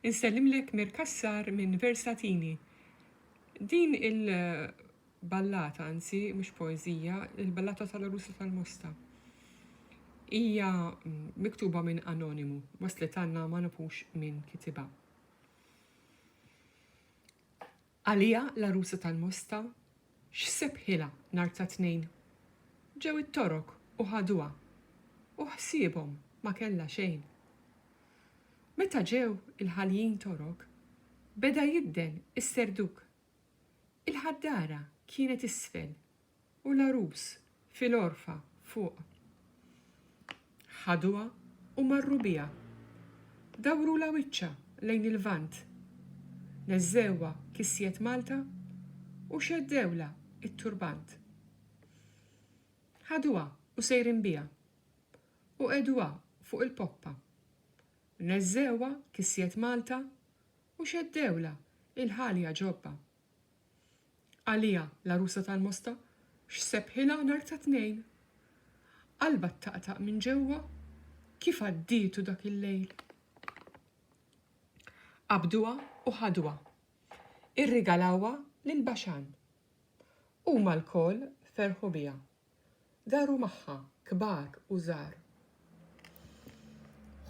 Insellimlek Mir Cassar minn Versatini. Din il ballata, anzi mhux poeżija, il-ballata tal-Għarusa tal-Mosta. Hija miktuba minn anonimu, waslet għandna ma nafux min kitibha. Għaliha l-għarusa tal-Mosta x'sebħilha nhar ta' Tnejn? Ġew it-Torok u ħaduha u ħsiebhom ma kellha xejn. Meta ġew il-ħaljin Torok beda jidden is-Serduk. Il-ħaddara kienet isfel U l-għarus fil-għorfa fuq. Ħaduha u marru biha. Dawrulha wiċċha lejn il-Lvant. Neżżewha kisjiet Malta u xeddewlha t-turbant. Ħaduha u sejrin biha. U qegħduha fuq il-poppa. Neżżewha kisjiet Malta u xeddewlha l-ħalja ġobba. Għaliha, l-għarusa tal-Mosta, x'sebħilha nhar ta' Tnejn? Qalbha ttaqtaq minn ġewwa. Kif għaddietu dak il-lejl? Qabduha u ħaduha. Irrigalawha lil Baxan. Huma lkoll ferħu biha. Daru magħha, kbar u żgħar.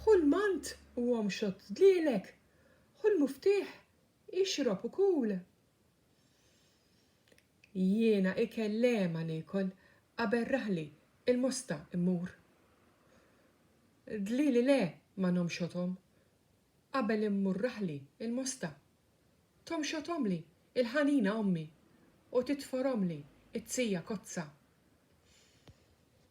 Ħu l-mant u omxot dlielek! Ħu l-muftieħ! Ixrob u kul! Jiena ikel liema niekol qabel raħli il-mosta mmur. Dlili le ma nomxothom qabel immur raħli il-mosta. Tomxothomli il-ħanina ommi u titforomli t-tija kozza.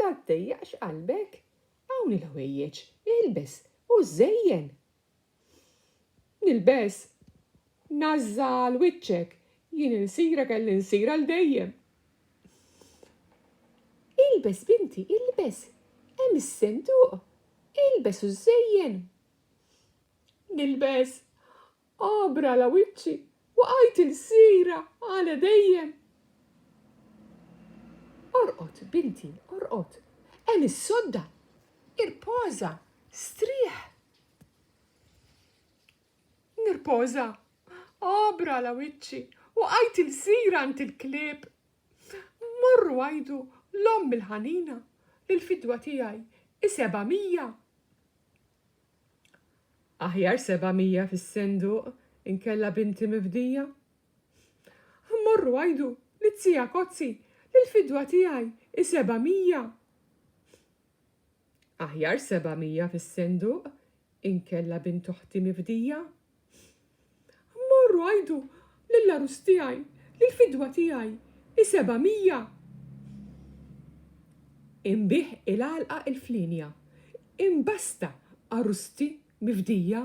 La ddejjaqx qalbek, hawn il-ħwejjeġ, ilbes u żżejjen! Nilbes! Nażża' għal wiċċek, jien insirek għal insir għal dejjem! Ilbes binti, ilbes! Hemm is-senduq! Ilbes u żżejjen! Nilbes! Għabra la wiċċi, waqajt ilsira għala dejjem. Orqod, binti, orqod, hemm is-sodda, irpoża, strieħ. Nirpoża, għabra la wiċċi, waqajt ilsira għand il-klieb. Morru għajdu l-omm il-ħanina li l-fidwa tiegħi i seba' mija. Aħjar seba' mija fis-senduq inkella binti mifdija. Morru għidu lit-tija Kotzi li l-fidwa tiegħi hi seba' mija. Aħjar seba' mija fis-senduq inkella bint oħti mifdija. Morru għidu lill-għarus tiegħi li l-fidwa tiegħi hi seba' mija! Inbigħ il-għalqa il-flienja! Imbasta għarusti mifdija!